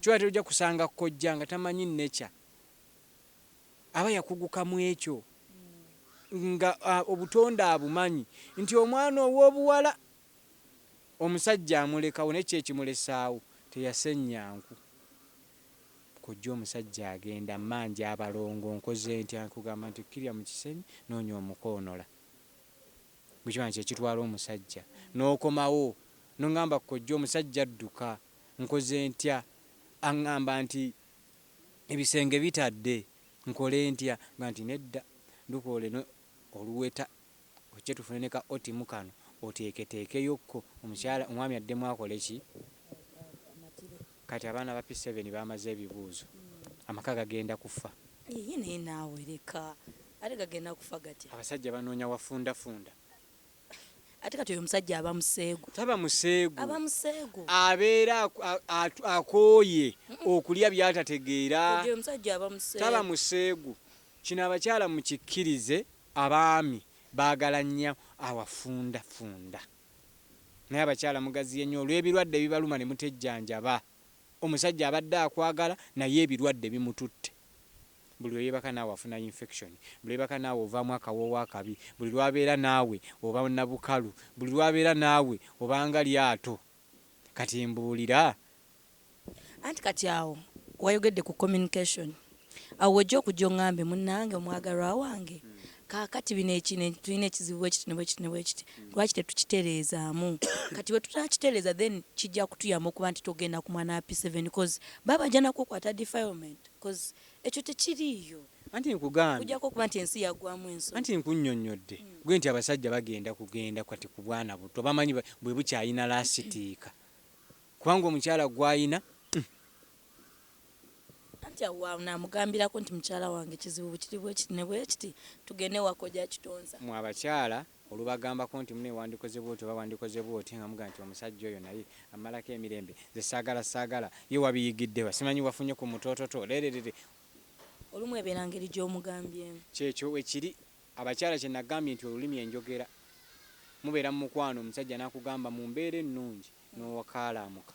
Kyoka ate oja kusanga kojja nga tamanyi nature aba yakuguka mwekyo nga obutonde abumanyi nti omwana owobuwala omusajja amulekawo naye ki ekimulesaawo teyasennya nku kojja omusajja agenda mmanja abalongo nkoze ntya nkugamba nti kirya mukisenyi noonya omuko onola bwekibanga kyekitwala omusajja nokomawo nongamba kojja omusajja adduka. nkoze ntya? Aŋŋamba nti, Ebisenge bitadde, nkole ntya? Nga nti, Nedda, dduka oleme oluweta, ojje tufune ne ka otimu kano oteeketeekeyo ko, omukyala, omwami addemu akole ki? Kati abaana ba P7 bamaze ebibuuzo. Amaka gagenda kufa. Yiyi, naye naawe leka. Ate gagenda kufa gatya? Abasajja banoonya wafundafunda. ate kati oyo omusajja aba museegu taba museegu aba museegu abeera akooye okulya byatategeera taba museegu kino abakyala mukikkirize abaami baagala nnyo awafundafunda naye abakyala mugaziye nnyo olw'ebirwadde ebibaluma ne mutejjanjaba omusajja abadde akwagala naye ebirwadde bimututte Buli lwe yeebaka naawe afuna yinfekishoni. Buli lwe yeebaka naawe ovaamu akawoowo akabi. Buli lw'abeera naawe oba na bukalu. Buli lw'abeera naawe oba nga lyato. Kati mbuulira. Anti kati awo wayogedde ku communication. Awo w'ojja okujja ong'ambe, Munnange, omwagalwa wange, kaakati bino eki, ne, tulina ekizibu bwe kiti ne bwe kiti ne bwe kiti. Lwaki tetukitereezaamu? Kati bwe tunaakitereeza, then kijja kutuyamba okuba nti togenda ku mwana wa P7, coz baba bajja na kukukwata defilement. Coz ekyo tekiriiyo. Anti nkugambye. Kujjako okuba nti ensi yagwamu ensonyi. Anti nkunyonyodde gwe nti abasajja bagenda kugenda kati kubwana butto bamanyi bwebukyayina lasitiika kubanga omukyala gwayina Anti awo wanamugambilako nti mukyala wange kizibu bwekiri bwekiti nebwekiti tugende ewa koja kitonsa. Mwe abakyala Olubagambako nti mune wandikoze bwoti oba wandikoze bwoti nga mugamba nti omusajja oyo naye ammalako emirembe nze saagala saagala ye wabiyigiddewa simanyi wafunye ku mutoototo lererere Olumu ebeera ngeri gy'omugambyemu. Kyekyo wekiri abakyala kyenagambye nti olulimi enjogera mubeera mumukwano omusajja nakugamba mumbeera ennungi nowakaalaamuka.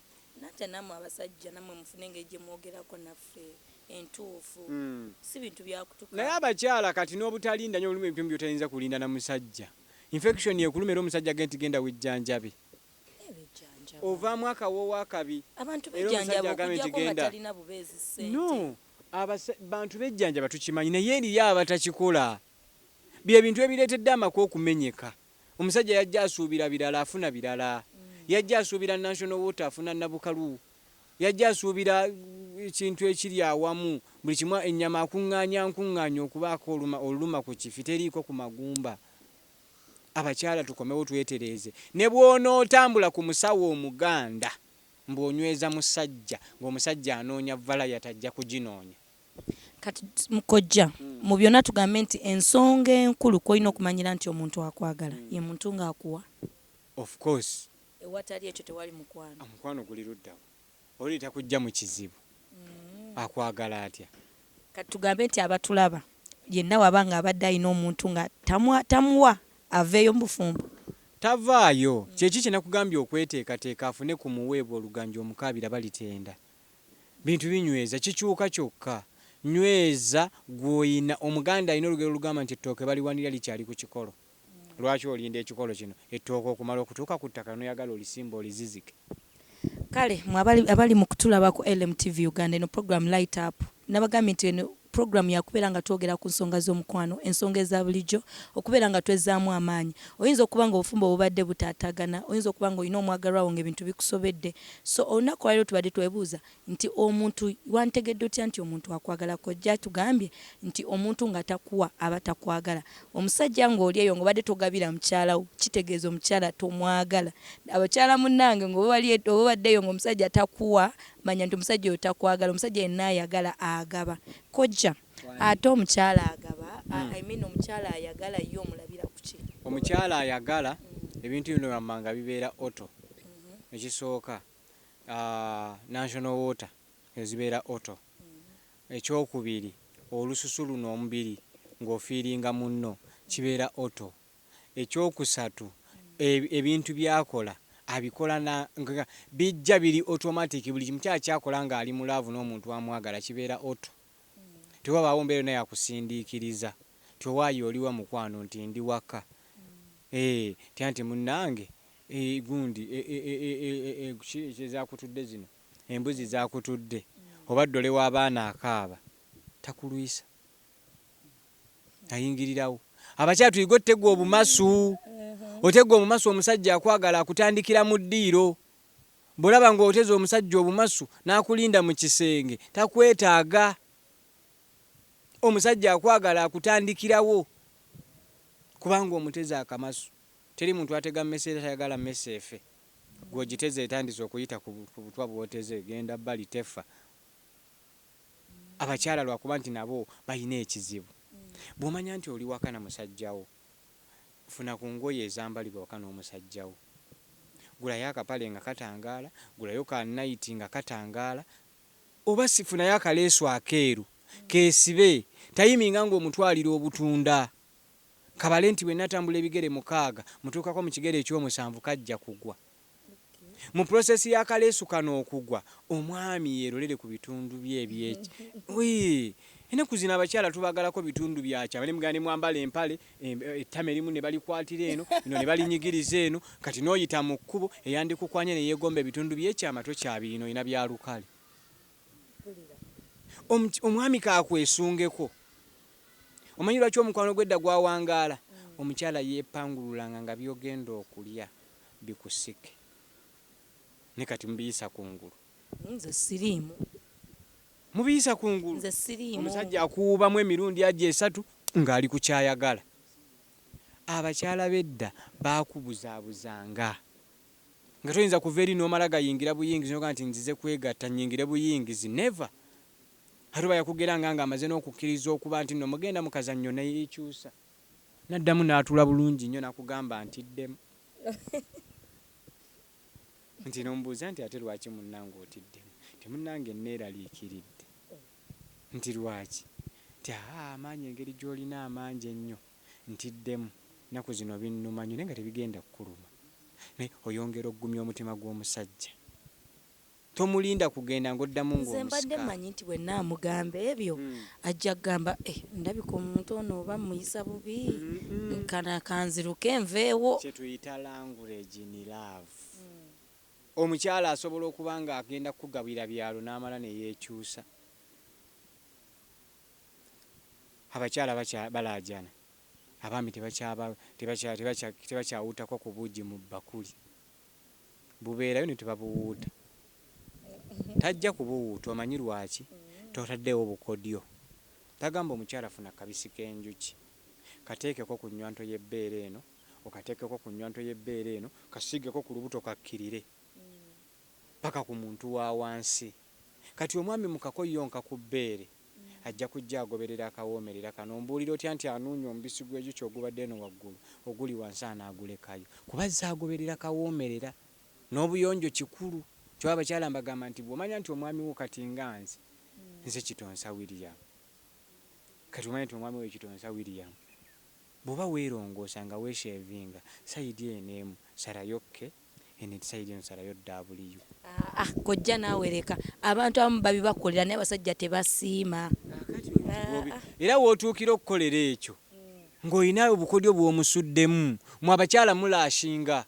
Nate namwe abasajja namwe mufune engeri gyemwogerako naffe entuufu si bintu byakutuka. Naye abakyala kati nobutalinda nyo mulimu ebimu byotayinza kulinda na musajja infection ekuluma era omusajja agenti genda wejjanjabe ovaamu akawoowo akabi era omusajja agambe nti genda no abasa bantu bejjanjaba tukimanyi naye eriyo abatakikola byebintu ebiretedde amaka okumenyeka. Omusajja yajja asuubira birala afuna birala. Yajja asuubira National Water afuna Nabukalu. Yajja asuubira ekintu ekiri awamu buli kimu ennyama akungaanya nkungaanya okubaako oluma oluluma ku kifi teriiko ku magumba. Abakyala tukomewo twetereeze. Ne bw'onootambula ku musawo Omuganda mbu onyweza musajja ng'omusajja anoonya valayati ajja kuginoonya. Kati kojja mu byona tugambe nti ensonga enkulu kwolina okumanyira nti omuntu akwagala ye muntu nga akuwa. Of course. Ewatali ekyo tewali mukwano. Omukwano guli luddawa? Oli takujja mu kizibu akwagala atya? Kati tugambe nti abatulaba yenna waba nga abadde alina omuntu nga tamuwa aveeyo mu bufumbo? Tavaayo. Kyeki kyenakugambye okweteekateeka afune ku muweebwa oluganja omukaabira balitenda. bintu binyweza, kikyuka kyokka. Nyweza gw'olina. Omuganda alina olugero olugamba nti ettooke baliwanirira likyali ku kikolo. Lwaki olinda ekikolo kino, ettooke, okumala okutuuka ku ttaka n'oyagala olisimbe olizizike? Kale mwe abali, abali mu kutulaba ku LMTV Uganda, eno pulogulaamu Light Up, nnabagambye nti eno, Pulogulaamu ya kubeera nga twogera ku nsonga z'omukwano, ensonga eza bulijjo, okubeera nga twezzaamu amaanyi. Oyinza okuba ng'obufumbo bubadde butaataagana, oyinza okuba ng'olina omwagalwa wo ng'ebintu bikusobedde. So, olunaku olwaleero tubadde twebuuza nti omuntu, wanditegedde otya nti omuntu akwagala? Kojja atugambye nti omuntu nga takuwa aba takwagala. Omusajja ng'oli eyo ng'obadde togabira mukyala wo, kitegeeza omukyala tomwagala. Abakyala munnange ng'oba wali, obadde eyo ng'omusajja takuwa, Manya nti omusajja oyo takwagala omusajja yenna ayagala agaba kojja ate omukyala agaba hmm. I mean omukyala ayagala ye omulabira kuki omukyala ayagala hmm. ebintu bino wammanga bibeera oto hmm. ekisooka ah, national water ezibeera oto ekyokubiri olususu luno omubiri ng'ofiiringa munno kibeera oto ekyokusatu ebintu byakola abikola nga bijja biri automatic buli kimu kyona kyakola nga ali mu love nomuntu amwagala kibeera auto tewabaawo mbeera yona yakusindiikiriza nti owaaye oliwa mukwano nti ndi waka eeh nti anti munange eeh gundi eeh ki ezakutudde zino embuzi zakutudde oba dole wabaana akaaba takulwisa. ayingirirawo abakyala tuyige otegwa obumasu mm-hmm. otegwa omumasu omusajja akwagala akutandikira mu ddiiro bwolaba nga oteza omusajja obumasu n'akulinda mu kisenge takwetaaga omusajja akwagala akutandikirawo kubanga omuteze akamasu teri muntu atega mmese era tayagala mmese efe gwogiteze etandise okuyita ku butwa bwoteze genda bali tefa abakyala lwakuba nti nabo balina ekizibu bwomanya nti oli waka na musajja wo funa ku ngoye ezambalibwa waka n'omusajja wo gulayo akapale nga katangaala gulayo ka nayiti nga katangaala oba funayo akaleesu akeeru kesibe tayiminga nga omutwalira obutunda kabale nti bwenatambula ebigere mukaaga mutuukako mu kigere eky'omusanvu kajja kugwa. Mu process ya kaleesu kano okugwa, omwami yelolere ku bitundu bye ebye Yii! Enaku zino abakyala tubagalako bitundu bya kyama nemugamba nemwambala empale, ettama erimu nebalikwatira eno, lino nebalinyigiriza eno, kati noyita mu kkubo eyandikukwanye neyegomba ebitundu bye kyama tokyabirina olina bya lukale. Omuky, omwami kakwesungeko. Omanyi lwaki omukwano gwe edda gwawangaala? Omukyala yepangululanga nga byogenda okulya. bi ku sick naye kati mubiyisa kungulu. Naye nze siriimu. Mubiyisa kungulu. Nze siriimu. Omusajja akuwuubamu emirundi ajo esatu nga ali ku kyayagala. Abakyala bedda baakubuzabuzanga nga toyinza kuva eri nomala gayingira buyingizi noga nti nzize kwegatta nyingire buyingizi never ate oba yakugeranga nga amaze nokukiriza okuba nti no mugenda mukazanyo neyekyusa. Naddamu n'atuula bulungi nnyo nakugamba ntiddemu nti n'omubuuza nti ate lwaki munnange otiddemu nti munnange nneeraliikiridde nti lwaki nti haa amaanyi engeri gy'olina amangi ennyo ntiddemu ennaku zino binnuma nnyo naye nga tebigenda kukuluma naye oyongera okugumya omutima gw'omusajja. Tomulinda kugenda nga oddamu nga omusika. Nze mbadde manyi nti bwenamugamba ebyo ajja kugamba eh ndabika omuntu ono oba mmuyisa bubi kano kanziruke nveewo. Kyetuyita language in love. Omukyala asobola okuba nga agenda kukugabira byalo namala neyekyusa. Abakyala balaajana, abaami tebakyawuutakwa ku buugi mu bbakuli. bubeerayo ne tebabuwuuta. Tajja kubuwuuta omanyi lwaki? Totaddeewo bukodyo. Tagamba omukyala funa kabisi k'enjuki kateekeko ku nnywanto y'ebbeere eno okateekeko ku nnywanto y'ebbeere eno kasiigeko ku lubuto kakkirire ppaka ku muntu wa wansi. Kati omwami mukako yonka ku bbeere ajja kujja agoberera akawoomerera kano ombuulira otya nti anuunya omubisi gw'ejukyi ogubadde eno waggulu oguli wansi anaagulekayo kuba azze agoberera kawoomerera n'obuyonjo kikulu kyo abakyala mbagamba nti bw'omanya nti omwami wo kati nga nze nze Kitonsa William kati omanya nti omwami wo Kitonsa William bw'oba weerongoosa nga weesheevinga sayidi eno emu sarayo ke Eno etisayidi eno salayo W. Aah kojja naawe leka. Abantu abamu babibakolera naye abasajja tebasiima. Kaakati oyo Kigobi era w'otuukira okukolera ekyo ng'olina obukodyo bw'omusuddemu. Mwe abakyala mulashinga.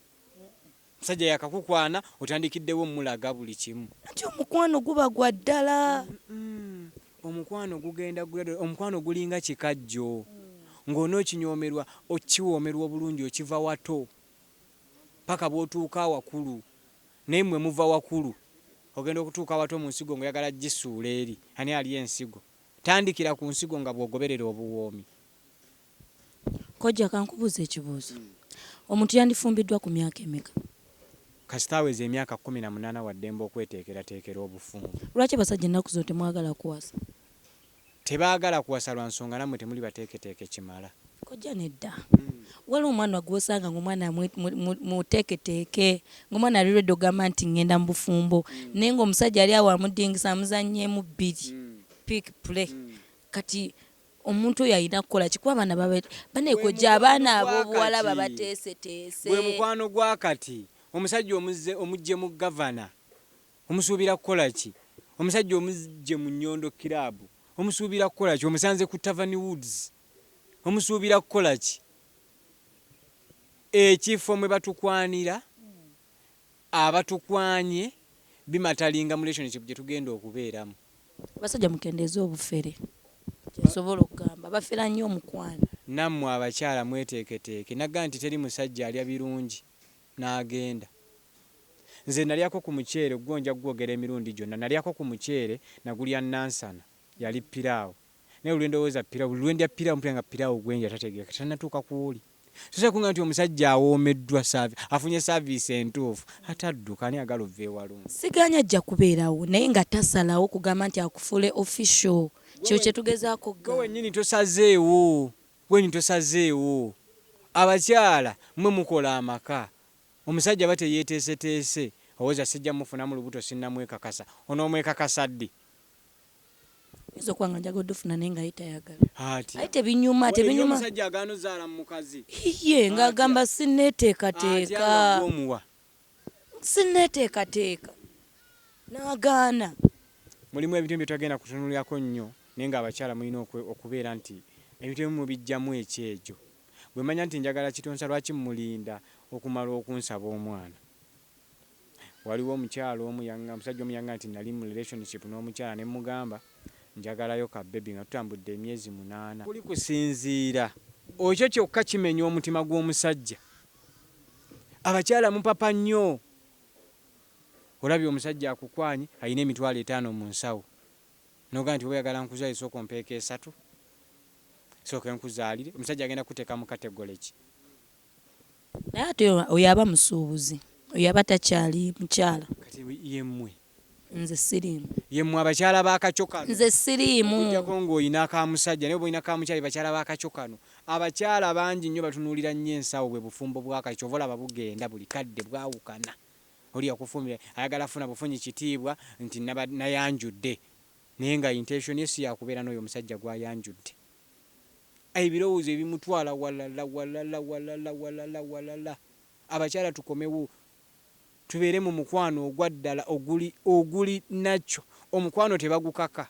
Omusajja yakakukwana otandikiddewo omulaga buli kimu. Anti omukwano guba gwa ddala. Omukwano gugenda gradually. Omukwano gulinga kikajjo ng'onookinyoomerwa okiwoomerwa obulungi okiva wato. paka bwotuuka awakulu naye mwe muva wakulu ogenda okutuuka awato munsigo nga oyagala jisuula eri ani alya ensigo tandikira kunsigo nga bwogoberera obuwoomi. Kojja kankubuuze ekibuuzo. Omuntu yandifumbiddwa ku myaka emeka? Kasita aweza emyaka kkumi na munaana waddembe okweteekerateekera obufumbo. Lwaki basajja ennaku zino temwagala kuwasa? Tebagala kuwasa lwansonga namwe temuli bateeketeeke kimala. Kojja nedda waliwo omwana gwosanga nga omwana muteeketeeke nga omwana ali ready ogamba nti ngenda mubufumbo naye nga omusajja ali awo amudingisa amuzanyeemu bbiri pick play kati omuntu oyo alina kukolaki kuba abaana baba banaye kojja abaana abobuwala babateeseteese. Gwemukwano gwakati omusajja omujje mu governor Omusuubira kukola ki? Omusajja omuggye mu Nyondo Club omusuubira kukola ki? Omusanze ku Tavern Woods omusuubira kukola ki? Ekifo mwe batukwanira, abatukwanye bimatalinga mu relationship gye tugenda okubeeramu. Abasajja mukendeeze obufere, kye nsobola okugamba. Bafera nnyo omukwano. Nammwe abakyala mweteeketeeke. Nagamba nti teri musajja alya birungi N'agenda. Nze nalyako ku muceere, gwo nja kugwogera emirundi gyonna, nalyako ku muceere, nagulya Nansana, yali piraawo. Naye buli lwe ndowooza piraawo, buli lwe ndya piraawo mpulira nga piraawo gwe ndya tategeereka, tannatuuka ku oli. Ssoose kuŋŋamba nti omusajja awoomeddwa, saavi, afunye saaviisi entuufu, ate adduka, ani ayagala ova ewalungi? Sigaanyi ajja kubeerawo, naye nga tasalawo kugamba nti akufuule official. Kye kye tugezaako okugamba. Ggwe wennyini tosazeewo. Queen tosazeewo. Abakyala mwe mukola amaka. Omusajja aba teyeteeseteese. Owoza sijja mufunamu lubuto sinnamwekakasa. Onoomwekakasa ddi? Nyinza okuba nga njagala odufuna naye nga ye tayagala. Atya? Aye tebinyuma, Waliyo tebinyuma. omusajja agaana ozaala mu mukazi. Hiyye nga Atya? agamba sinneeteekateeka. Atya nga gwe omuwa. Sinneeteekateeka, n'agaana. Mulimu ebintu ebimu bye totagenda kutunuulirako nnyo naye ng'abakyala mulina okubeera nti ebintu ebimu mubiggyamu ekyejo. Bwe manya nti njagala Kitonsa lwaki mmulinda okumala okunsaba omwana? Waliwo omukyala omu yangamba, omusajja omu yangamba nti nnali mu relationship n'omukyala ne mmugamba njagalayo ka bbebi nga tutambudde emyezi munaana. Kuli kusinziira. Ekyo kyokka kimenya omutima gw'omusajja. Abakyala mupapa nnyoo. Olabye omusajja akukwanye alina emitwalo etaano mu nsawo nogamba nti oyagala nkuzalire sooka ompeeko esatu sooke nkuzaalire omusajja agenda kukuteeka mu category ki? Naye ate oyo aba musuubuzi oyo aba takyali mukyala. Kati yemmwe Nze siriimu. Ye mmwe abakyala b'akakyo kano. Nze siriimu. Okuggyako ng'olina ka musajja naye bw'olina ka mukyala ye bakyala b'akakyo kano. Abakyala bangi nnyo batunuulira nnyo ensawo bwe bufumbo bw'akakyo ky'ova olaba bugenda buli kadde bwawukana. Oli yakufumbira ayagala kufuna bufunyi kitiibwa nti naba, nayanjudde naye nga intention ye si ya kubeera n'oyo omusajja gw'ayanjudde. Ebirowoozo ebimutwala walala, walala, walala, walala, walala. Abakyala tukomewo. tubeere mu mukwano ogwa ddala oguli oguli nacyo omukwano tebagukaka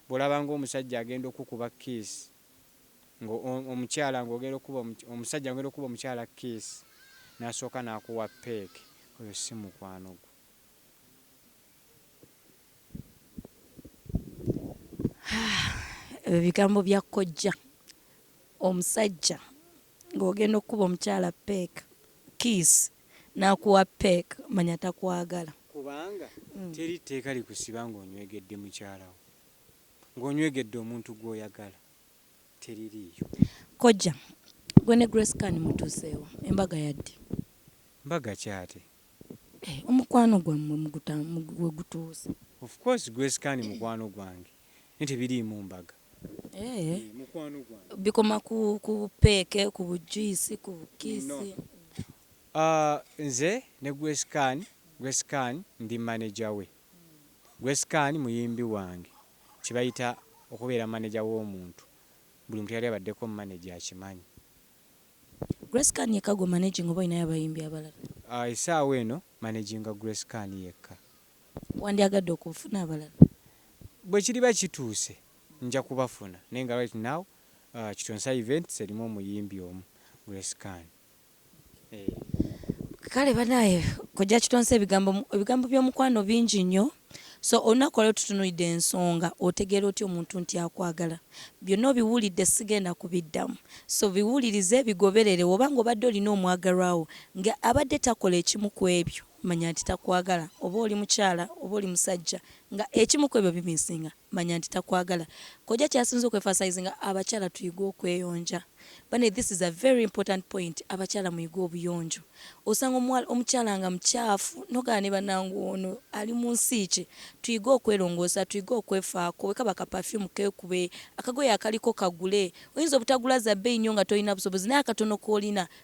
bwolaba nga omusajja agenda okukuba kiss nga omukyala nga ogenda okukuba omusajja ogenda okukuba omukyala kiss nasooka nakuwa peeke oyo si mukwano gwo. Ebyo bigambo bya kojja omusajja. Nga ogenda okukuba omukyala peck, kiss, nakuwa peck manya takwagala. Kubanga teri tteeka likusiba nga onywegedde mukyala wo. Nga onywegedde omuntu gwoyagala teririiyo. Kojja, gwe ne Grace Khan mutuuseewa? Embaga yaddi? Mbaga ki ate? Eh omukwano gwamwe muguta wegutuuse. Of course grace khan mukwano gwange naye tebiriimu mbaga. Eeh bikoma ku ku peeke ku bu juice ku bu kiss. Ahh nze ne grace khan grace khan ndi manager we grace khan muyimbi wange kyebayita okubeera manager womuntu buli muntu eyali abaddeko manager akimanyi Grace Khan yekka gwo managing oba olinayo abayimbi abalala? Esaawa eno managinga Grace Khan yekka. Wandyagadde okufuna abalala? Bwekiriba kituuse nja kubafuna naye nga right now Kitonsa events erimu omuyimbi omu Grace Khan eeh. Kale banaye kojja kitonsa ebigambo ebigambo byomukwano bingi nyoo. So olunaku olwaleero tutunulidde ensonga otegeera otya omuntu nti akwagala. Byonna obiwulidde sigenda kubiddamu. So biwulirize bigoberere woba nga obadde olina omwagalwa wo nga abadde takola ekimu kwebyo manya nti takwagala oba oli mukyala oba oli musajja nga ekimu kwebyo bimisinga. manya nti takwagala. Kojja kyasinze okwefasayizinga abakyala tuyige okweyonja bane this is a very important point abakyala muyige obuyonjo osanga omuwala omukyala nga mukyafu nogana ne banange ono ali munsi ki tuyige okwelongosa tuyige okwefako wekaba ka perfume kekube akagoye akaliko kagule oyinza obutagula za beyi nyo nga tolina busobozi naye akatono kolina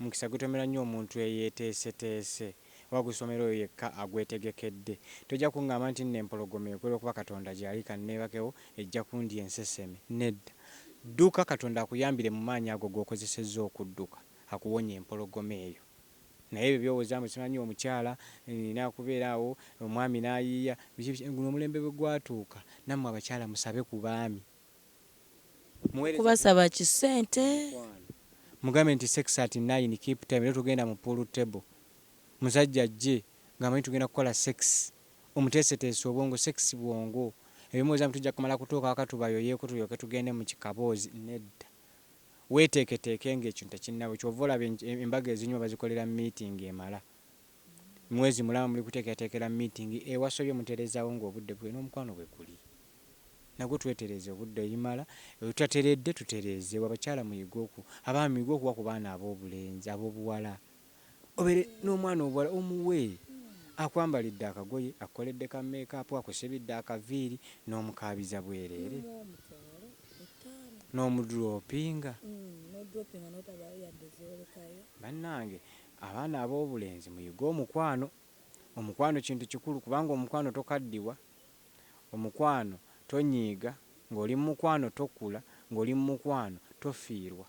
Omukisa gutomera nnyo omuntu eyeeteeseteese, oba gusomera oyo yekka agwetegekedde. Tojja kungamba nti nno empologoma ekwe lw'okuba Katonda gyali kanneebakewo ejja kundya enseseme. Nedda. Dduka Katonda akuyambire mu maanyi ago g'okozesezza okudduka, akuwonye empologoma eyo. Naye ebyo by'owoza mbu simanyi omukyala, nnina kubeera awo, omwami n'ayiiya, biki biki, guno omulembe bwe gwatuuka, nammwe abakyala musabe ku baami. Kubasaba ki ssente. Mugambe nti sex at nine keep time lero tugenda mu pool table musajja ajje nga amanyi tugenda kukola sex omuteeseteese obwongo sex bwongo ebyo mulowoza mbu tujja kumala kutuuka waka tubayoyeko tulyoke tugende mu kikaboozi nedda weteeketeeke nga ekintu tekinnaba kyova olaba embaga ezinyuma bazikolera meeting emala mwezi mulamba muli kutekeatekera meeting ewasobye muterezawo nga obudde bwena omukwano bweguli nagwo twetereze obudde ebimala wetutateredde tuterezewo abakyala muyige oku abaami muyige okuwa ku baana abobulenzi abobuwala obere nomwana obuwala omuwe akwambalidde akagoye akukoledde ka makeup akusibidde akaviiri nomukaabiza bwerere nomudroppinga banange Abaana ab'obulenzi muyige omukwano. Omukwano kintu kikulu kubanga omukwano tokaddiwa, omukwano tonyiiga, ng'oli mu mukwano tokula, ng'oli mu mukwano tofiirwa.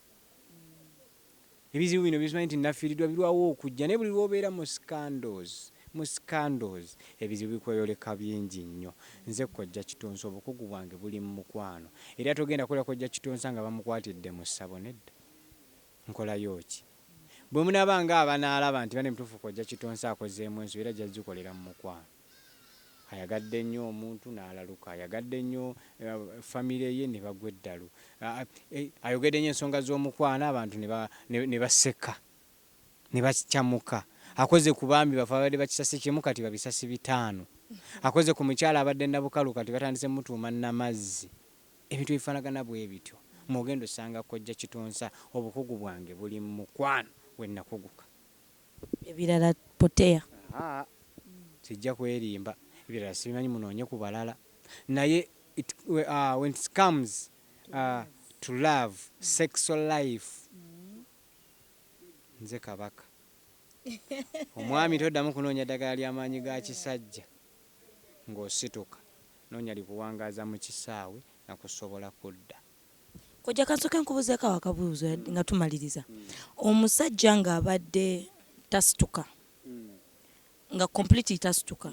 Ebizibu bino bye tumanyi nti nnafiiriddwa birwawo okujja naye buli lw'obeera mu scandals, mu scandals, ebizibu bikweyoleka bingi nnyo. Nze Kojja Kitonsa obukugu bwange buli mu mukwano era togenda kuwulira Kojja Kitonsa nga bamukwatidde mu ssabo, nedda. Nkolayo ki? Bwe munaaba nga abanaalaba nti bane mutuufu kojja Kitonsa akozeemu ensobi era ajja zikolera mu mukwano. Ayagadde nnyo omuntu n'alaluka. Ayagadde nnyo famire ye ne bagwa eddalu. Ayogedde nnyo ensonga z'omukwano abantu ne baseka ne bacamuka. Akoze ku baami bafe ababadde bakisasi kimu kati babisasi bitaano. Akoze ku mukyala abadde Nabukalu kati batandise mutuuma Namazzi. Ebintu ebifanagana bwebityo mwogenda osanga kojja kitonsa obukugu bwange buli mu mukwano wenakuguka. Ebirala potea. Ahaa sijja kwerimba ebirala sibimanyi munoonye ku balala naye it when it comes to love sexual life nze kabaka omwami toddamu kunoonya ddagala lya maanyi ga kisajja ng'osituka. Noonya likuwangaaza mu kisaawe na kusobola kudda. Kojja kansooke nkubuzeeko awo akabuuzo nga tumaliriza. Omusajja nga abadde tasituka nga completely tasituka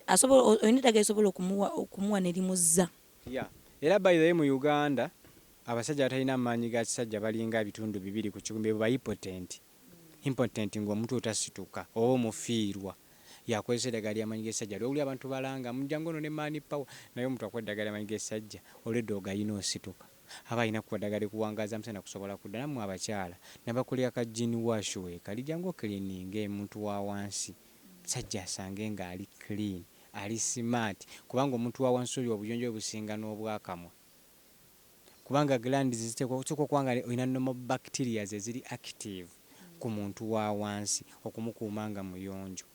asobola olina eddagala lisobola okumuwa okumuwa ne limuzza? Yeah era by the way mu Uganda abasajja abatalina maanyi ga kisajja balinga ebitundu bibiri ku kikumi beebo ba ipotenti. Impotent nga omutwe otasituka oba omufiirwa yakozesa edagala lya manyi gesajja lwewuli abantu balanga mbu jangu onone man power naye omuntu akuwa edagala lya manyi gesajja olwedda ogayina osituka aba alina kuwa dagala likuwangaza musana kusobola kudda namwe abakyala nabakulira ka gin wash wekali jangu ocleaninge omuntu wawansi sajja asange nga ali clean ali smart kubanga omuntu wawansi oyo obuyonjo bwe businga nobwakamwa. kubanga glands ziteekwa ziteekwa okuba nga olina normal bacterias eziri active ku muntu wa wansi okumukuuma nga muyonjo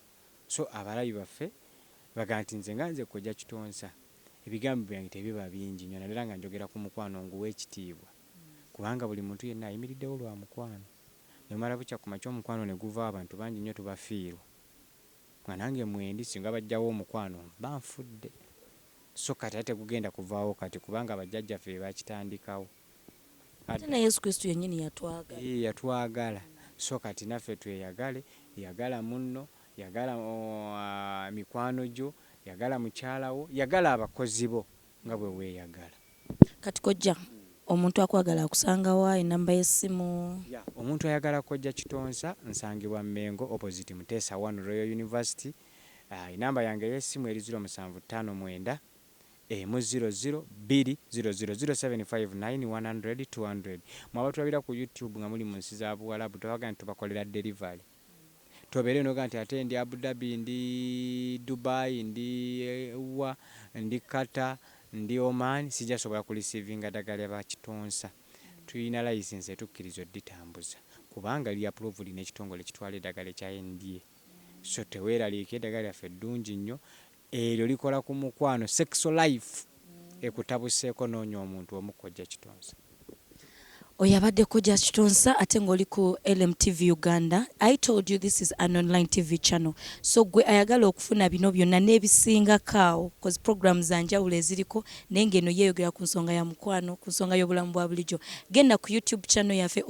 so abalabi baffe bagamba nti nze nga nze kojja kitonsa ebigambo byange tebiba bingi nnyo naddala nga njogera ku mukwano nguwa ekitiibwa kubanga buli muntu yenna ayimiriddewo lwa mukwano nomala bukya ku makya omukwano ne guvaawo abantu bangi nnyo tubafiirwa. Nga nange mwendi singa bajjawo omukwano mba nfudde so kati ate tegugenda kuvaawo kati kubanga ba jjajja ffe bebakitandikawo Ate ne Yesu Kristo yenyini yatwagala. Yii yatwagala so kati naffe tweyagale yagala munno yagala mikwano gyo yagala mukyala wo yagala abakozi bo. nga bwe weeyagala. Kati kojja omuntu akwagala akusanga wa? Ennamba y'essimu? Ya, omuntu ayagala kojja Kitonsa nsangibwa Mmengo opposite Muteesa I Royal University. Ennamba yange ey'essimu eri ziro musanvu ttaano mwenda emu ziro ziro bbiri ziro ziro, ziro seven five nine one hundred two hundred. Mmwe abatulabira ku YouTube nga muli mu nsi za Buwalabu twabaga nti tubakolera delivery. tobeereyo noga nti ate ndi Abu Dhabi, ndi Dubai, ndi wa, ndi Qatar, ndi Oman sijja sobola ku receivinga dagala lya ba kitonsa. Tulina license etukkiriza oditambuza kubanga liri approved nekitongole ekitwala edagala ekya NDA. So teweraliika edagala lyaffe ddungi nnyo. Eryo likola ku mukwano, sex life ekutabuseeko noonya omuntu omu Kojja Kitonsa. Oyo abadde Kojja Kitonsa ate nga oli ku LM TV Uganda. I told you this is an online TV channel so gwe ayagala okufuna bino byonna n'ebisingako awo coz program za njawulo eziriko naye nga eno yeeyogera ku nsonga ya mukwano, ku nsonga y'obulamu bwa bulijo. Genda ku YouTube channel yafe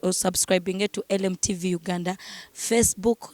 osubscribinge to LM TV Uganda, Facebook,